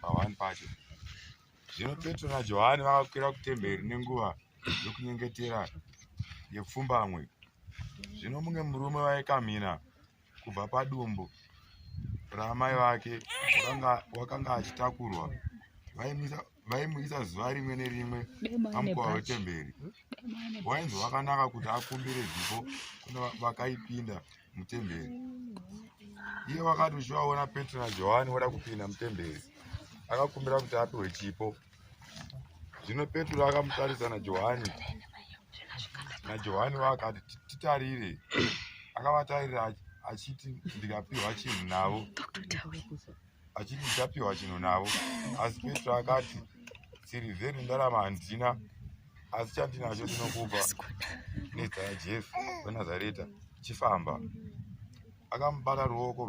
pahwani pacho zvino petro najohani vakakwira kutemberi nenguva yokunyengetera yepfumbamwe zvino mumwe murume waikamhina kubva padumbu raamai vake wakanga achitakurwa vaimisa vaimuisa zuva rimwe nerimwe pamukova wetemberi wainzi wakanaka kuti akumbire zipo kuna vakaipinda mutemberi iye wakati uchivaona petro najohani voda kupinda mutemberi akakumbira kuti apiwe chipo zvino petro akamutarisa najohani najohani waakati titarire akavatarira achiti ndikapiwa chinhu navo achiti ndichapiwa chinhu navo asi petro akati sirivheri ndarama handina asi chandinacho ndinokupa nezita rajesu wenazareta chifamba akamubata ruoko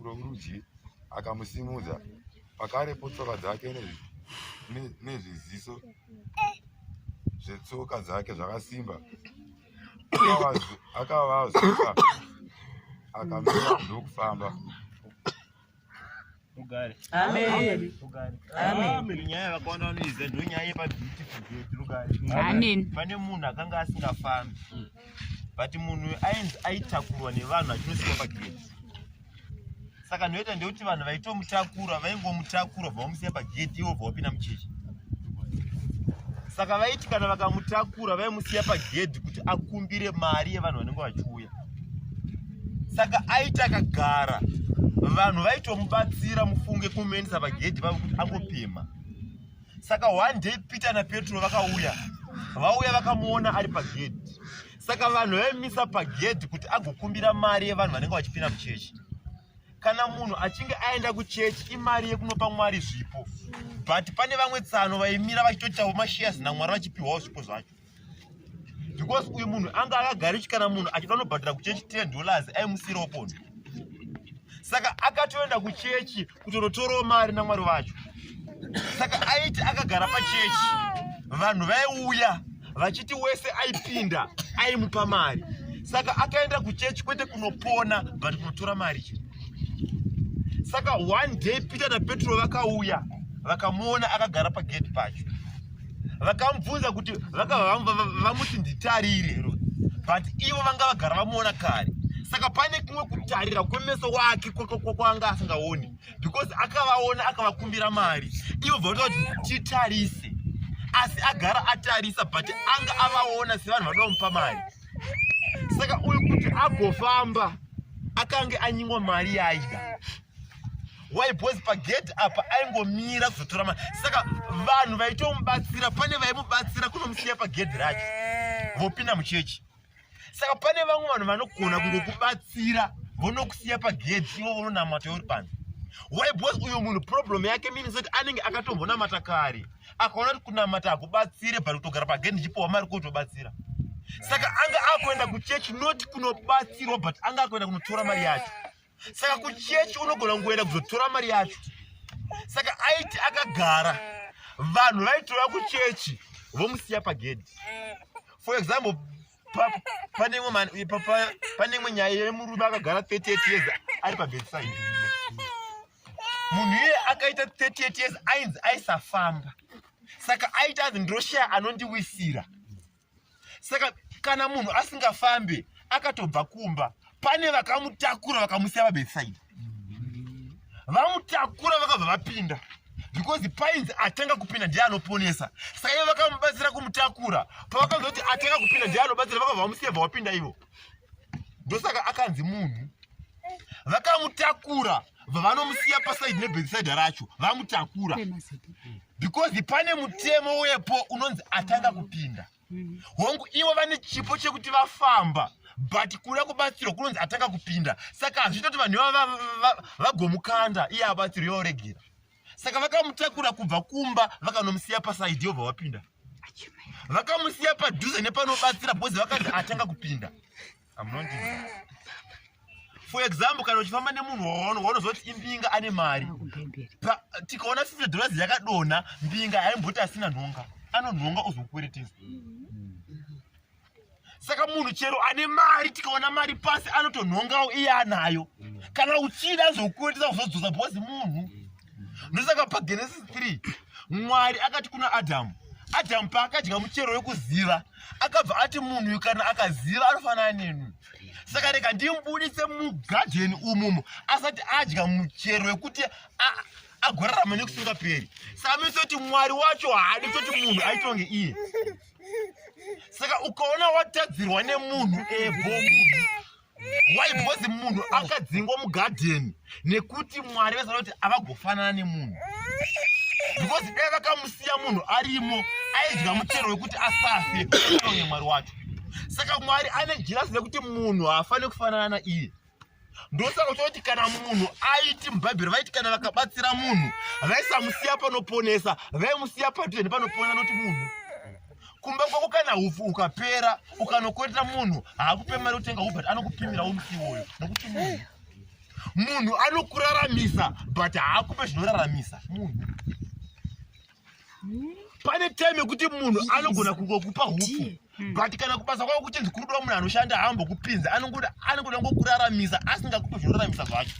rworudyi akamusimudza pakarepo tsoka dzake nezviziso zvetsoka dzake zvakasimba akavazuka akamira ndokufamba rugare amen rugare amen nyaya yakawanda vanoiziva ndo nyaya yepa beautiful gate rugare amen pane munhu akanga asingafambi but munhu ainzi aitakurwa nevanhu achinosikwa pagate saka ndoita ndekuti vanhu vaitomutakura vaingomutakura bva vamusiya pagedhi ivo bva vapinda muchechi saka vaiti kana vakamutakura vaimusiya pagedhi kuti akumbire mari yevanhu vanenge vachiuya saka aiti akagara vanhu vaitomubatsira mufunge kumuendesa pagedhi vavo kuti angopima saka one day peter napetro vakauya vauya vakamuona ari pagedhi saka vanhu vaimisa pagedhi kuti agokumbira mari yevanhu vanenge vachipinda muchechi kana munhu achinge aenda kuchechi imari yekunopa mwari zvipo but pane vamwe tsano vaimira vachitoitawo mashiyas namwari vachipiwawo zvipo zvacho because uyu munhu anga akagari chikana munhu achida unobhadhira kuchechi 10 dollars aimusiyirawo pondo saka akatoenda kuchechi kutonotorawo mari namwari vacho saka aiti akagara pachechi vanhu vaiuya vachiti wese aipinda aimupa mari saka akaenda kuchechi kwete kunopona but kunotora mari chii saka one day peter napetro vakauya vakamuona akagara pagedhi pacho vakamubvunza kuti vamuti nditarire but ivo vanga vagara vamuona kare saka pane kumwe kutarira kwemeso wake kwanga asingaoni because akavaona akavakumbira mari ivo bvakuta kuti titarise asi agara atarisa but anga avaona sevanhu vanoda kumupa mari saka uyu kuti agofamba akange anyimwa mari yaida why boys pagedhi apa aingomira kuzotora mari saka vanhu vaitomubatsira pane vaimubatsira kunomusiya pagedhi racho eh. vopinda muchechi saka pane vamwe vanhu vanogona kungokubatsira vonokusiya pagedhi ivo vononamata uri panze why boys uyo munhu problem yake means kuti anenge akatombonamata kare akaona kuti kunamata hakubatsire but kutogara pagedhi ndichipiwa mari kutobatsira saka anga akuenda kuchechi not kunobatsirwa but anga akuenda kunotora mari yacho saka kuchechi unogona kungoenda kuzotora mari yacho saka aiti akagara vanhu vaitora kuchechi vomusiya pagedhi for example pane imwe nyaya yemurume akagara 38 years ari pabedside munhu iye akaita 38 years ainzi aisafamba saka aita anzi ndoshaya anondiwisira saka kana munhu asingafambe akatobva kumba pane vakamutakura vakamusiya pabetsaidi vamutakura vakabva vapinda because pains atanga kupinda ndiye anoponesa saka ivo vakamubatsira kumutakura pavakanzi kuti atanga kupinda ndiye anobatsira vakabva vamusiya bva wapinda ivo ndosaka akanzi munhu vakamutakura vanomusiya pasaidi nebhekiside racho vamutakura because pane mutemo wepo unonzi atanga kupinda mm. hongu ivo vane chipo chekuti vafamba but kuda kubatsirwa kunonzi atanga kupinda saka hazviita kuti vanhu ivava vagomukanda iye abatsirwa yoregera saka vakamutakura kubva kumba vakanomusiya pasaidi yobva wapinda vakamusiya padhuze nepanobatsira because vakanzi atanga kupinda for example kana uchifamba nemunhu waono waunozoti imbinga ane mari tikaona fifty dollars yakadonha mbinga haimboti asina nhonga anonhonga ozokukweretesa saka munhu chero ane mari tikaona mari pasi anotonhongawo iye anayo kana uchida zokukweretesa kuzodzosa bhozi munhu ndosaka pagenesis 3 mwari akati kuna adhamu adhamu paakadya muchero wekuziva akabva ati munhu kana akaziva anofanana nenu saka rega ndimbudise mugadheni umumu asati adya muchero wekuti agorarama nekusingaperi saka mese kuti mwari wacho haadi kutoti munhu aitonge iye saka ukaona watadzirwa nemunhu ebomu why because munhu akadzingwa mugadheni nekuti mwari vaziva kuti avagofanana nemunhu because dai vakamusiya munhu arimo aidya muchero wekuti asafe aonye mwari wacho saka mwari ane jirasi rekuti munhu haafaniri kufanana naiye ndosaka uchoti kana munhu aiti mubhaibheri vaiti kana vakabatsira munhu vaisamusiya panoponesa vaimusiya padheni panoponesa noti munhu kumba kwako kana hupfu ukapera ukanokwetera munhu haakupe mari utenga hu but anokupimira umusi iwoyo nokuti munhu munhu anokuraramisa but haakupe zvinoraramisa munhu pane time yekuti munhu anogona kungokupa hupfu hmm. but kana kubasa kwako kuchinzi kuri kuda munhu anoshanda haambokupinza anongoda anongoda ngokuraramisa asingakupe zvinoraramisa zvacho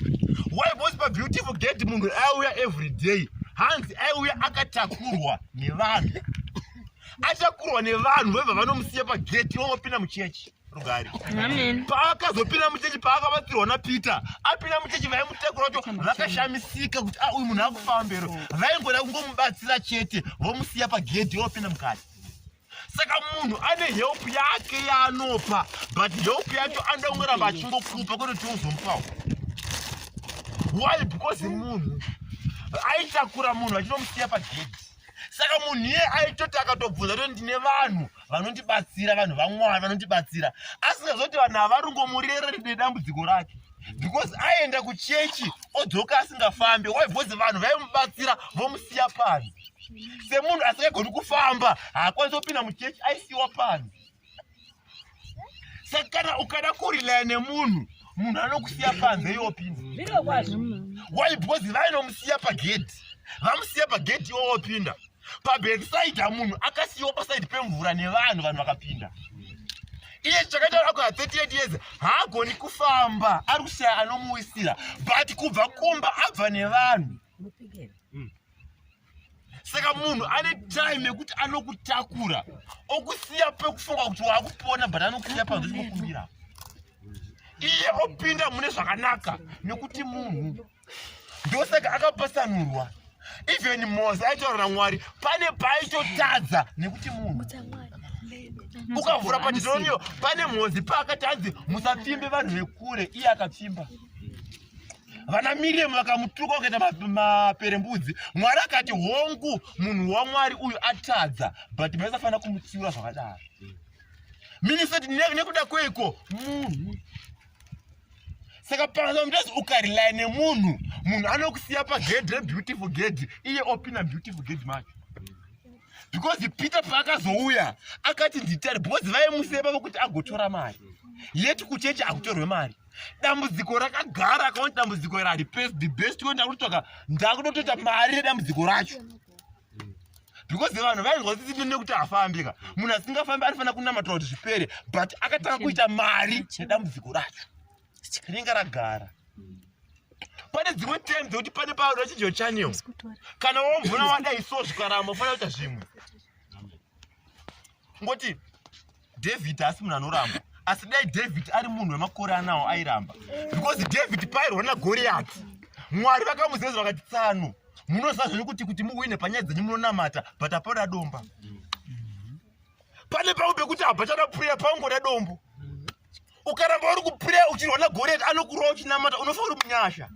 why bos pabeautiful gate munhu aiuya every day hanzi aiuya akatakurwa nevanhu achakurwa nevanhu vobva vanomusiya pageti vomopinda muchechi rugari paakazopinda muchechi paakabatsirwa napeter apinda muchechi vaimutakura wacho vakashamisika kuti ah, uyu munhu akufambero vaingoda kungomubatsira chete vomusiya pagedhi vopinda mukati saka munhu ane help yake yaanopa but help yacho anoda kungoramba achingokupa kwete kuti uzomupawo why because munhu aitakura munhu achinomusiya pagedi saka munhu iye aitoti akatobvunza kuti ndine vanhu vanondibatsira vanhu vamwari vanondibatsira asingazoti vanhu havarungomurereri nedambudziko rake because aenda kuchechi odzoka asingafambe why because vanhu vaimubatsira vomusiya panzi semunhu asingagoni kufamba haakwanisi kupinda muchechi aisiwa panzi saka kana ukada kurilaya nemunhu munhu anokusiya panze iwopinda why because vainomusiya pagedhi vamusiya pagedhi iwowopinda pabedside munhu akasiyiwa paside pemvura nevanhu vanhu vakapinda iye chakaita ako ha 38 years haagoni kufamba ari kushaya anomuwisira but kubva kumba abva nevanhu saka munhu ane time yekuti anokutakura okusiya pekufunga kuti waakupona but anokusiya panzvikukumbira iye opinda mune zvakanaka nekuti munhu ndosaka akapasanurwa even mose aitaurira mwari pane paaitotadza nekuti munhu ukavhura padidoniyo pane mhozi paakati anzi musapfimbe vanhu vekure iye akapfimba vana miriamu vakamutuka wakaita maperembudzi mwari akati hongu munhu wamwari uyu atadza but maisafanira kumutsiura zvakadaro minisati nekuda kweiko munhu saka pasamutazi ukarely nemunhu munhu anokusiya pagedhi rebeautiful gedhi iye opina beautiful gedhi macho because peter paakazouya akati nditari because vaimusiya pavo kuti agotora mari yeti kuchechi akutorwe mari dambudziko rakagara akaona dambudziko iri haripesi the best ko ndakutotsvaka ndakutotoita mari redambudziko racho because vanhu vainzwa kuti tipinde kuti afambe ka munhu asingafambi anofanira kunamatira kuti zvipere but akatanga kuita mari nedambudziko racho rinenge ragara pane dzimwe time dzekuti pane paoda chidyo chaneo kana womvona wadai so zvikaramba ufanira kuita zvimwe kungoti david asi munhu anoramba asi dai david ari munhu wemakore anawo airamba because david pairwa nagoriyati mwari vakamuzeza vakati tsano munoziva zvenyu kuti kuti muwine panyaya dzenyu munonamata but hapana domba pane pamwe pekuti habachada puriya pangoda dombo ukaramba uri kupreya uchirwa nagoriyati anokurova uchinamata unofa uri munyasha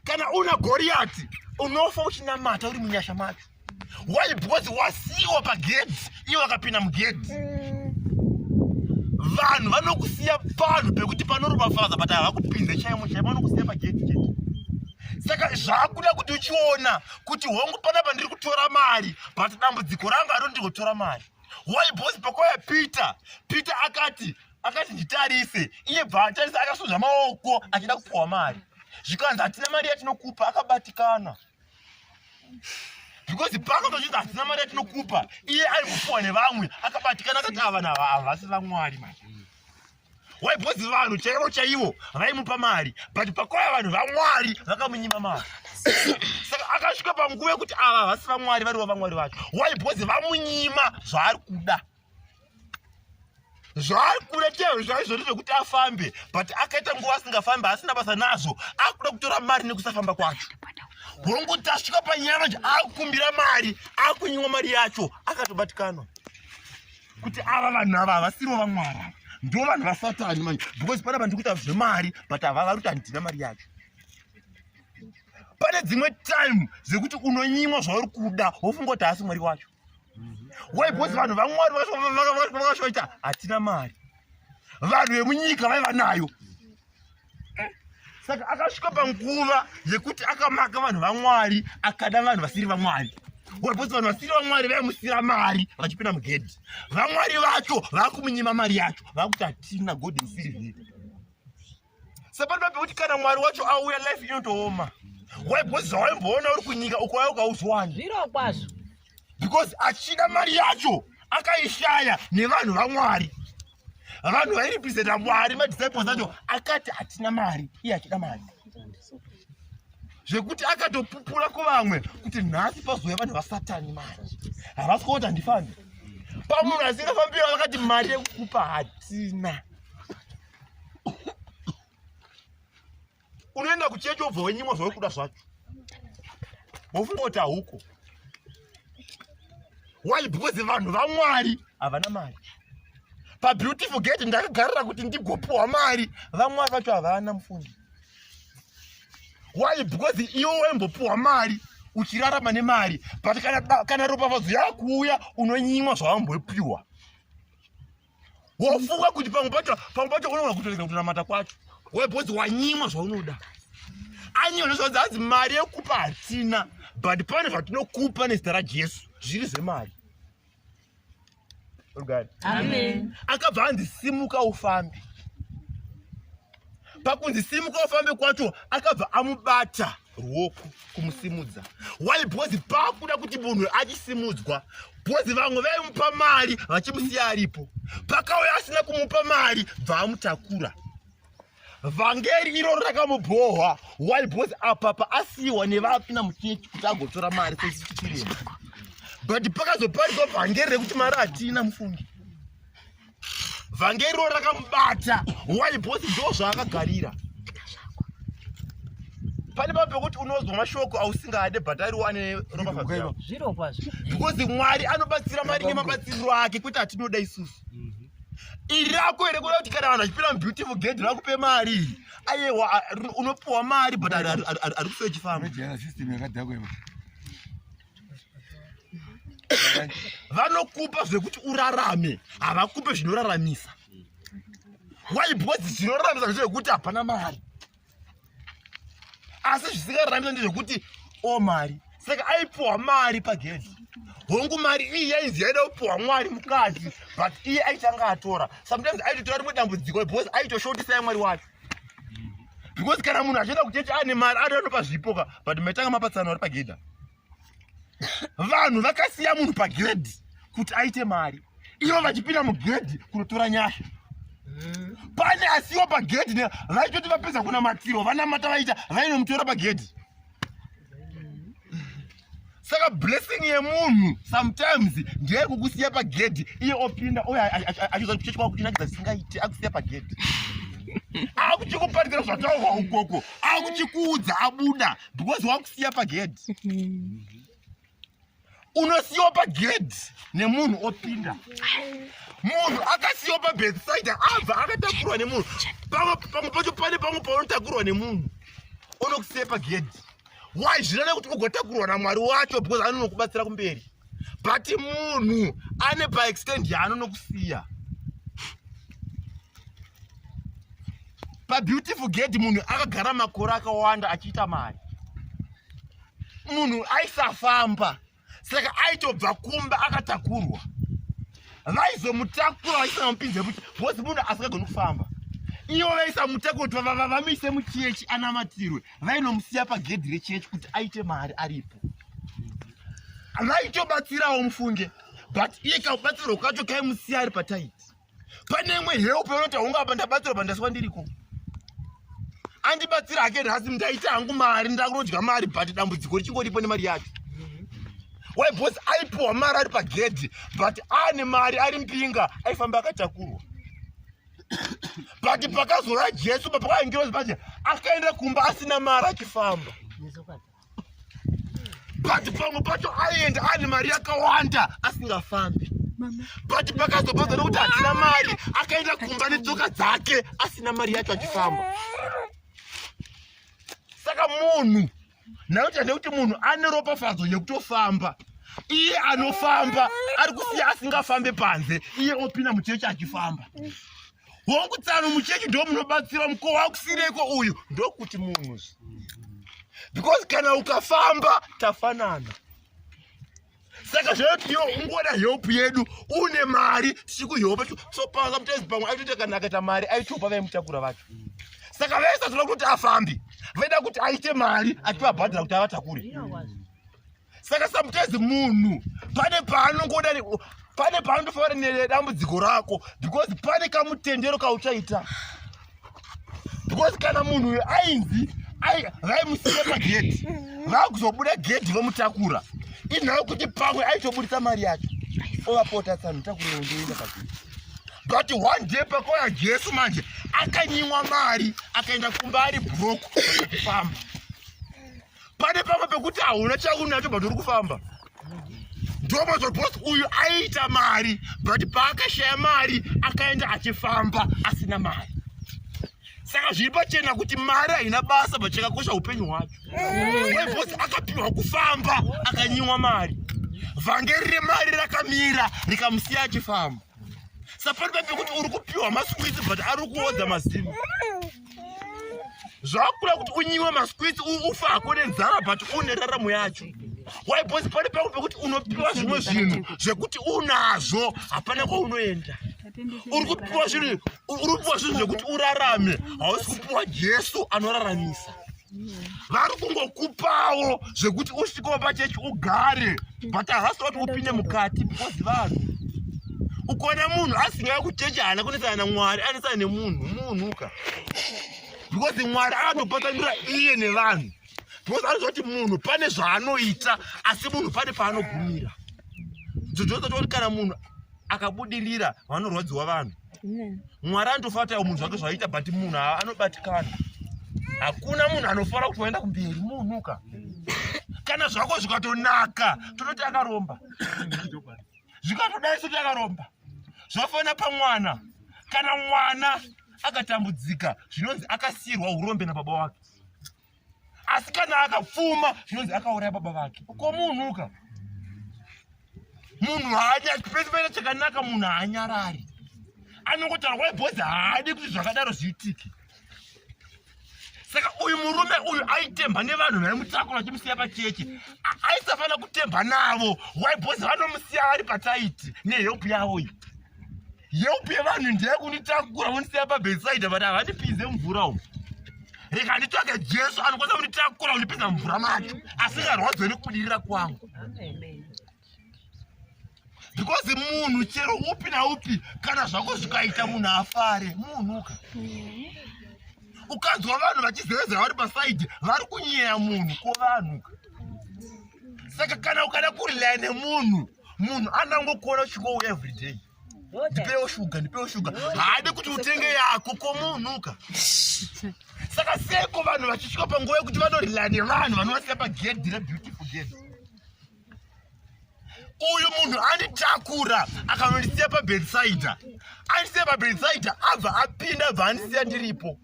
kana una goriyati unofa uchinamata uri munyasha macho why because wasiiwa pagedhi iye wakapinda mugedhi vanhu vanokusiya panhu pekuti panorova faza but havakupinze chaimo chaimo vanokusiya pagedhi chete saka zvakuda kuti uchiona kuti hongu panapa ndiri kutora mari but dambudziko ranga aro ndiri kutora mari why boss pakwaya peter peter akati akati nditarise iye bva atarisa akasonza maoko achida kupuwa mari zvikanzi hatina mari yatinokupa akabatikana because paakatochinzi hatina mari yatinokupa iye ari kupuwa nevamwe akabatikana akati ava nava havasi vamwari mari why because vanhu chaivo chaivo vaimupa mari but pakauya vanhu vamwari vakamunyima mari saka akasvika panguva yekuti ava havasi vamwari varivo vamwari vacho why because vamunyima zvaari kuda zvaari kuda chaivo zvaizvoti zvekuti afambe but akaita nguva asingafambe asina basa nazvo akuda kutora mari nekusafamba kwacho hongu tasvika panyama nje akukumbira mari akunyimwa mari yacho akatobatikanwa kuti ava vanhu ava havasiro vamwari ava ndo vanhu vasatani manje because pana vanhu tikuita zvemari but hava vari kuti handina mari yacho pane dzimwe time dzekuti unonyimwa zvauri kuda wofunga kuti haasi mwari wacho why because vanhu vamwari vakashoita hatina mari vanhu vemunyika vaiva nayo saka akasvika panguva yekuti akamaka vanhu vamwari akada vanhu vasiri vamwari wapoti vanhu vasiri vamwari vaimusira mari vachipinda mugedhi vamwari vacho vakumunyima mari yacho vakuti hatina god musiri here sapano papi kuti kana mwari wacho auya life inotooma waibhozi zvawaimboona uri kunyika uko waya ukauzwani zviro kwazvo because achida mari yacho akaishaya nevanhu vamwari vanhu vairepresenta mwari madisciples acho akati hatina mari iye achida mari zvekuti akatopupura kuvamwe kuti nhasi pazouya vanhu vasatani mari havasi kuoti handifambi pamunhu asingafambira vakati mari yekukupa hatina unoenda kuchechi obva wenyimwa zvauri kuda zvacho wofunga kuti hauko why because vanhu vamwari havana mari pabeautiful gate ndakagarira kuti ndigopiwa mari vamwari vacho havana mufundi why because iwe waimbopiwa mari uchirarama nemari but kana, kana ropafadzo yakuuya unonyimwa zvawambopiwa wofunga kuti pamwe pacho pamwe pacho unoona kutorega kutonamata kwacho webhodzi wanyimwa zvaunoda anyiwa nezvaudzi hanzi mari yekupa hatina but pane zvatinokupa nezita rajesu zviri zvemari akabva anzi simuka ufambe pakunzi simuka ufambe kwacho akabva amubata ruoko kumusimudza why because pakuda kuti munhu achisimudzwa because vamwe vaimupa mari vachimusiya aripo pakauya asina kumupa mari bvaamutakura vhangeri iro rakamubhohwa why because apa paasiyiwa nevapi namuchechi kuti agotora mari sesichirema but pakazoparidwa vhangeri rekuti mari hatina mufungi vhangeri ro rakamubata why bosi ndo zvaakagarira pane pa pekuti unozwa mashoko ausingade but ari wane ropafaaa zviro kwazvo because mwari anobatsira mari nemabatsiriro ake kwete atinoda isusu mhm. iri rako here kuda kuti kana vanhu achipira mubeautiful ged rakupe mari ayewa unopiwa mari but ari kusoechifamba vanokupa zvekuti urarame havakupe zvinoraramisa why because zvinoraramisa ndezvekuti hapana mari asi zvisingararamisa ndezvekuti o oh, mari saka aipiwa mari pagedhi hongu mari iyi yainzi yaida kupiwa mwari mukadzi but iye aitanga atora sometimes aitotora rimwe dambudziko because aitoshotisa yamwari wacho because kana munhu achienda kuchechi ane mari ado anopa zvipo ka but maitanga mapatsano ari pagedha vanhu vakasiya munhu pagiredi kuti aite mari ivo vachipinda mugedhi kunotora nyasha mm. pane asiwa pagedhi vaitoti vapedza kunamatirwa vanamata vaita vainomutora pagedhi saka blessing yemunhu sometimes ndeye kukusiya pagedhi iye opinda uye achizoa kuchechi kwako kuchinakidza chisingaiti akusiya pagedhi akuchikuparidza zvataurwa ukoko akuchikuudza abuda because wakusiya pagedhi unosiyiwa pagedhi nemunhu opinda munhu akasiyiwa pabethsaida abva akatakurwa nemunhu pamwe pamwe pacho pane pamwe paunotakurwa nemunhu unokusiya pagedhi why zvinana kuti ugotakurwa namwari wacho because anonokubatsira kumberi but munhu ane paextend yaanonokusiya pabeautiful gedhi munhu akagara makore akawanda achiita mari munhu aisafamba saka aitobva kumba akatakurwa vaizomutakura vaisanamupinze kuti bhozi munhu asingagoni kufamba ivo vaisamutakura kuti vavamise muchechi anamatirwe vainomusiya pagedhi rechechi kuti aite mari aripo vaitobatsirawo mufunge but iye kakubatsirwa kwacho kaimusiya ari pataiti pane imwe help yaunoti haungapa ndabatsira pandaswa ndiriko andibatsira hake nhasi ndaita hangu mari ndakunodya mari but dambudziko richingoripo nemari yacho why bos aipiwa mari ari pagedhi but ane mari ari mpinga aifamba akatakurwa but pakazora jesu papakaingirozi paje akaenda kumba asina mari achifamba but pamwe pacho aenda ane mari yakawanda asingafambi but pakazopedza nekuti hatina mari akaenda kumba netsoka dzake asina mari yacho achifamba saka munhu nakuti hande kuti munhu ane ropafadzo yekutofamba iye anofamba ari kusiya asingafambe panze iye opinda muchechi achifamba hongu tsano muchechi ndo munobatsira mukowa wakusireko uyu ndokuti munhu because kana ukafamba tafanana saka zvaoti iwo ungoda help yedu une mari tisikuhopa so panga mutezi pamwe aitoita kana akaita mari aitopa vaimutakura vacho saka vese toda kuti afambi vaida kuti aite mari ativabhadhira kuti avatakure saka sometimes munhu pane paanongoda pane paanondofanira nedambudziko rako because pane kamutendero kauchaita because kana munhu uyo ainzi vaimusiya pagedhi vakuzobuda gedhi vomutakura inhau kuti pamwe aitobudisa mari yacho ovapota tsano takurira ndoenda pagedhi but one day pakauya jesu manje akanyimwa mari akaenda kumba ari broke kufamba pane pamwe pekuti hauna chaunacho but uri kufamba ndopazvo bos uyu aiita mari but paakashaya mari akaenda achifamba asina mari saka zviri pachena kuti mari haina basa but chakakosha upenyu hwacho webos akapihwa kufamba akanyimwa mari vhangeri remari rakamira rikamusiya achifamba sapari papekuti uri kupiwa maswiti but ari kuodza mazimu zvakura kuti unyiwe masquits ufa hako nenzara but une raramo yacho why bcause pane pangu pekuti unopiwa zvimwe zvinhu zvekuti unazvo hapana kwaunoenda uri kupiwa zvinhu uri kupiwa zvinhu zvekuti urarame hausi kupiwa jesu anoraramisa vari kungokupawo zvekuti usvikewo pachechi ugare but ahasi wati upinde mukati because vanhu ukona munhu asingaya kuchechi haana kunesana namwari anesana nemunhu munhuka because mwari anotopatsanura iye nevanhu because anoziva kuti munhu pane zvaanoita asi munhu pane paanogumira dzodzodza toti kana munhu akabudirira vanorwadziwa vanhu mwari anotofara kuti munhu zvake zvaiita but munhu anobatikana hakuna munhu anofara kuti waenda kumberi munhuka kana zvako zvikatonaka tototi akaromba zvikatodai soti akaromba zvafanira pamwana kana mwana akatambudzika zvinonzi akasiyirwa urombe nababa wake asi kana akapfuma zvinonzi akauraya baba vake ko munhuka munhu haanyapese paita chakanaka munhu haanyarari anongotaura kwai bhozi haadi kuti zvakadaro zviitike saka uyu murume uyu aitemba nevanhu vaimutakura achimusiya pacheche aisafanira kutemba navo wai bhozi vanomusiya vari pataiti nehelp yavo iyi yeupi yevanhu ndiye kunitakura vondisiya pabeside vati havandipinze mvura umu reka nditsvake jesu anokwanisa kunditakura kundipinza mvura macho asingarwadzo nekubudirira kwangu because munhu chero upi naupi kana zvako zvikaita munhu afare munhuka ukanzwa vanhu vachizevezera vari pasaidi vari kunyeya munhu ko vanhuka saka kana ukada kurilaya nemunhu munhu anangokuona uchingouya everyday ndipewo shuga ndipewo shuga haadi kuti utenge yako komuunuka saka seko vanhu vachisvika panguva yekuti vanorila nevanhu vanovasiya pagedhi rebeautiful gedhi uyu munhu anditakura akanondisiya pabedsider andisiya pabedsider abva apinda abva andisiya ndiripo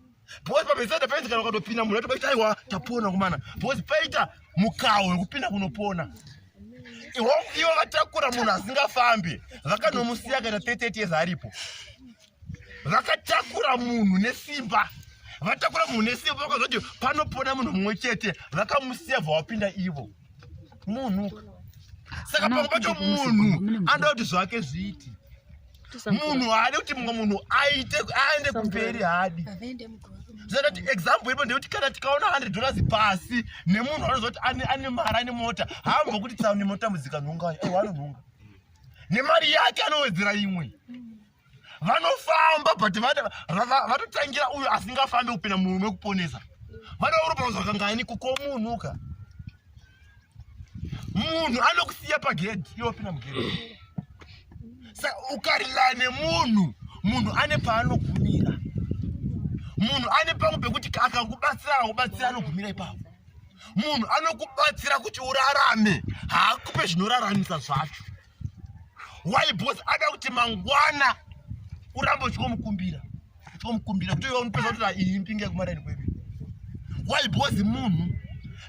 Boys pameza depends kana ukatopinda munhu atobaita aiwa tapona kumana. Boys paita mukawo wekupinda kunopona. Iwo iwo vatakura munhu asingafambi vakanomusiya kana 30 years aripo. Vakatakura munhu nesimba. Vatakura munhu nesimba vakazoti panopona munhu mumwe chete vakamusiya vawapinda ivo. Munhu saka pamwe pacho munhu anoda kuti zvake zviiti munhu haadi kuti mumwe munhu aite aende kumberi haadi zvoita kuti example ipo ndeyekuti kana tikaona hundred dollars pasi nemunhu anoziva kuti ane mari ane mota haambo kuti tsaune mota mudzika nhongaya aiwa anonhonga nemari yake anowedzera imwe vanofamba but vatotangira uyo asingafambe kupinda murume kuponesa vanourupauza kangani kukomunhuka munhu anokusiya pagedhi iwe wapinda mugedhi sa ukarilaya nemunhu munhu ane paanogumira munhu ane pamwe pekuti akakubatsira akakubatsira anogumira ipapo munhu anokubatsira kuti urarame haakupe zvinoraramisa zvacho why boss ada kuti mangwana uramba uchikomukumbira uchikomukumbira kuti iwe unopedza kuti ah, iyi mpinge kumareni kwedu why boss munhu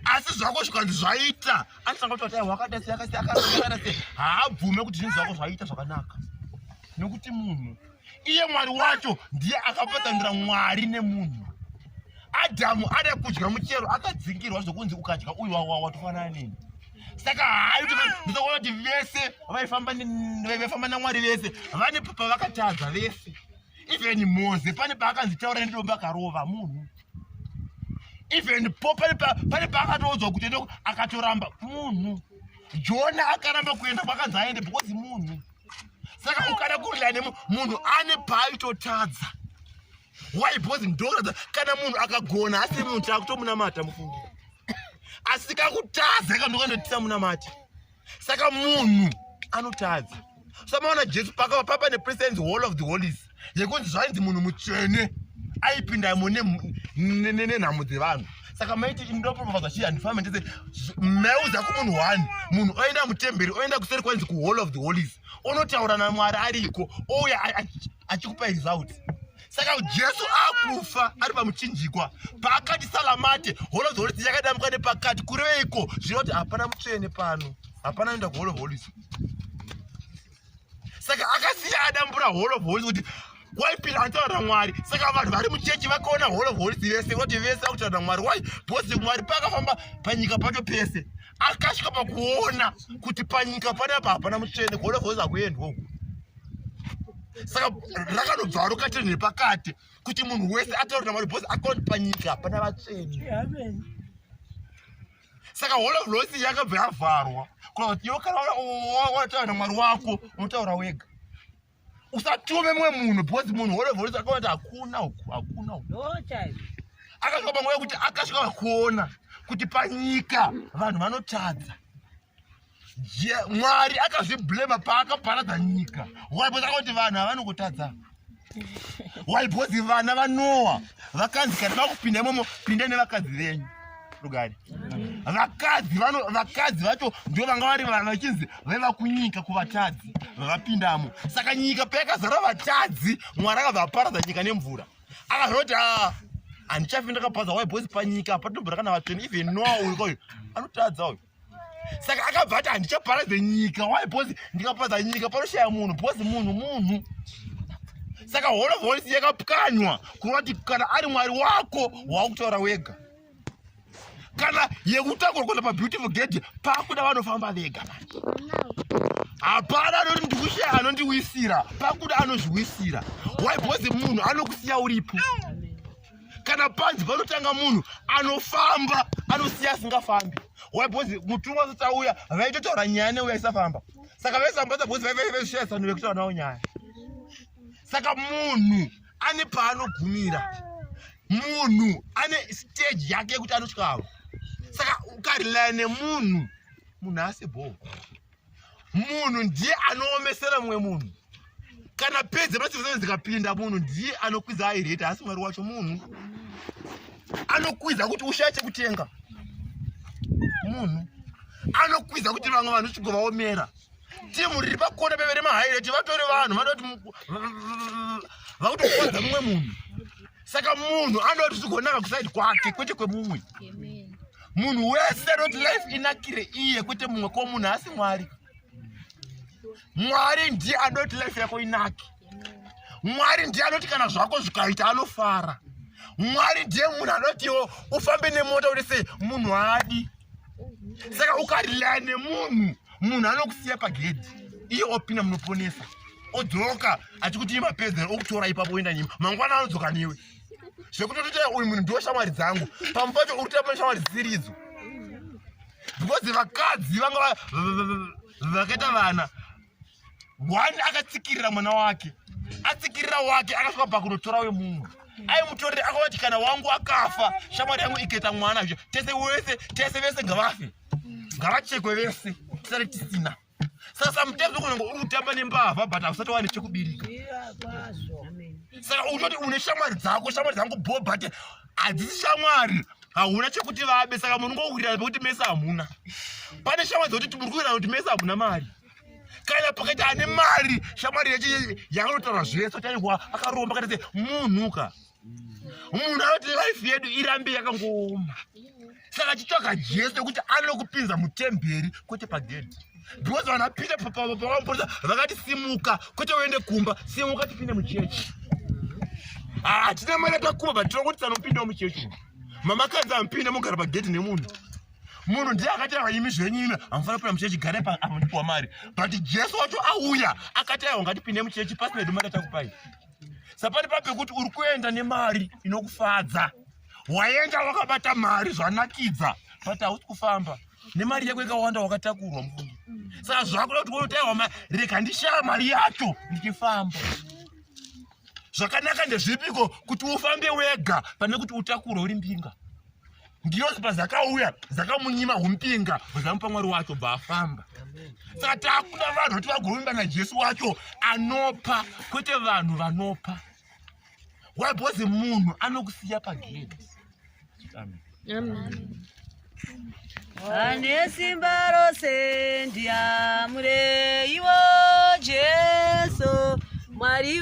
asi zvako zvikanzi zvaita anisanga kuti atai wakada seyakasiyakasiyana se haabvume kuti zvinhu zvako zvaita zvakanaka nekuti munhu iye mwari wacho ndiye akapatanira mwari nemunhu adhamu ada kudya muchero akadzingirwa zvokunzi ukadya uyu wawa watofanana nini saka haitoona kuti vese vaifamba namwari vese vane pavakatadza vese even moze pane paakanzi taura nedomba akarova munhu even po pane paakatoudzwa kuti ende akatoramba munhu jona akaramba kuenda kwakanzi aende because munhu saka ukada kurila nemu munhu ane paaitotadza why because ndoratidza kana munhu akagona asiri munhu taakutomunamata mufungi asi kakutadza kandokandoitisa munamati saka munhu anotadza samaona jesu pakava papa nepresidents hall of the holies yekunzi zvainzi munhu mutsvene aipindamo nenhamo dzevanhu saka maiti indopropaza chii handifambe ndese mauza kumunhu one munhu oenda mutemberi oenda kuseri kwainzi kuhall of the holies onotaura namwari ariko ouya achikupa result saka jesu akufa ari pamuchinjikwa paakati salamate hall of the holies yakadamuka nepakati kureiko zvinoti hapana mutsvene pano hapana anoenda kuhall of holies saka akasiya adambura hall of holy kuti why pira ataura mwari saka vanhu vari muchechi vakaona hall of holy vese voti vese vakutaura mwari why bhosi mwari paakafamba panyika pacho pese akasvika pakuona kuti panyika panapa hapana mutsvene hall of holy akuendwa uku saka rakanobva rokatiri nepakati kuti munhu wese ataurira mwari bhosi akaona panyika hapana vatsvene saka hall of loss yakabva yavharwa kuti iwe kana wataura namwari wako unotaura wega usatume mumwe munhu because munhu hall of loss akaona hakuna uku hakuna uku akasvika panguva yekuti akasvika vakuona kuti panyika vanhu vanotadza mwari akazviblema paakaparadza nyika waipoakati vanhu havani kutadza waibhozi vana vanowa vakanzi kana vakupinda imomo pinda nevakadzi venyu rugari vakadzi vakadzi vacho ndio vanga vari vanhu vachinzi vaiva kunyika kuvatadzi vavapindamo saka nyika payakazara vatadzi mwari akavaparadza nyika nemvura akazoti ah, handichafi ndakapaza waibhozi panyika patinombora kana vatsveni even noa uyu koyo anotadza uyu saka akabva ati handichaparadze nyika why because ndikaparadza nyika panoshaya munhu because munhu munhu saka whole of holis yakapwanywa kureva kuti kana ari mwari wako waakutaura wega kana yekutakurwa kuenda pabeautiful gate pakuda vanofamba vega hapana anoti ndikushaya anondiwisira pakuda anozviwisira why because munhu anokusiya uripo kana panzi panotanga munhu anofamba anosiya asingafambi why because mutumwa asati auya vaitotaura nyaya neuya isafamba saka vaisambadza because vaivaivaisvira zano vekutaura nawo nyaya saka munhu ane paanogumira munhu ane stage yake yekuti anotyavo saka ukarelaya nemunhu munhu asi bhoo munhu ndiye anoomesera mumwe munhu kana pedze machivezana dzikapinda munhu ndiye anokwidza aireta haasi mwari wacho munhu anokwidza kuti ushaya chekutenga munhu anokwidza kuti vamwe vanhu chigovaomera timu riri pakona pevere mahaireti vatori vanhu vanoda kuti vakutokodza mumwe munhu saka munhu anoti zvigonaka kusaidi kwake kwete kwemumwe munhu wese anoti life inakire iye kwete mumwe ko munhu haasi mwari mwari ndiye anoti life yako inake mwari ndiye anoti kana zvako zvikaita anofara mwari ndiye munhu anotiwo ufambe nemota uri sei munhu haadi saka ukarila nemunhu munhu anokusiya pagedhi iye opinda munoponesa odzoka achikuti imapedzera okutora ipapo oenda nyima mangwana anodzoka newe zvekutotoita uyu munhu ndiwo shamwari dzangu pamwe pacho uri kutoita pane shamwari dzisiridzo because vakadzi vanga vakaita vana one akatsikirira mwana wake atsikirira wake akasvika pakunotora wemumwe aimutorere akavati kana wangu akafa shamwari yangu iketa mwana izvo tese wese tese vese ngavafe ngavachekwe vese tisare tisina saka samutezi kunenge uri kutamba nembavha but hausati wane chekubirika saka unoti une shamwari dzako shamwari dzangu bho but hadzisi shamwari hauna chekuti vabe saka munhu ngokuwirana pekuti mese hamuna pane shamwari dzokuti muri kuwirana kuti mese hamuna mari kana pakaita ane mari shamwari yacho yaanotaura zvese chaihwa akaromba kana se munhuka munhu anoti life yedu irambe yakangooma saka chitsvaga jesu yekuti anokupinza mutemberi kwete pagedhi because vana pita pavamupurisa vakati simuka kwete uende kumba simuka tipinde muchechi hatina ah, mari yatakuba but tinokuti sanopindawo muchechi mamakadzi amupinde mogara pagedhi nemunhu munhu ndiye akati aiwa imi zvenyu imi hamufana kupinda muchechi gare apo ndipiwa mari but jesu wacho auya akati aiwa ngatipinde muchechi pasina hedu mari atakupai sapani pa pekuti uri kuenda nemari inokufadza waenda wakabata mari zvanakidza but hausi kufamba nemari yako ikawanda wakatakurwa mufungi saka zvakuda kuti wonotaiwa rega ndishaya mari yacho ndichifamba zvakanaka ndezvipiko kuti ufambe wega pane kuti utakure uri mbinga ngirozi pazakauya zakamunyima umpinga zvamupa mwari wacho bva afamba saka takuda vanhu kuti vagovimba najesu wacho anopa kwete vanhu vanopa why because munhu anokusiya pagedi ane simba rose ndiamureiwo jesu mwari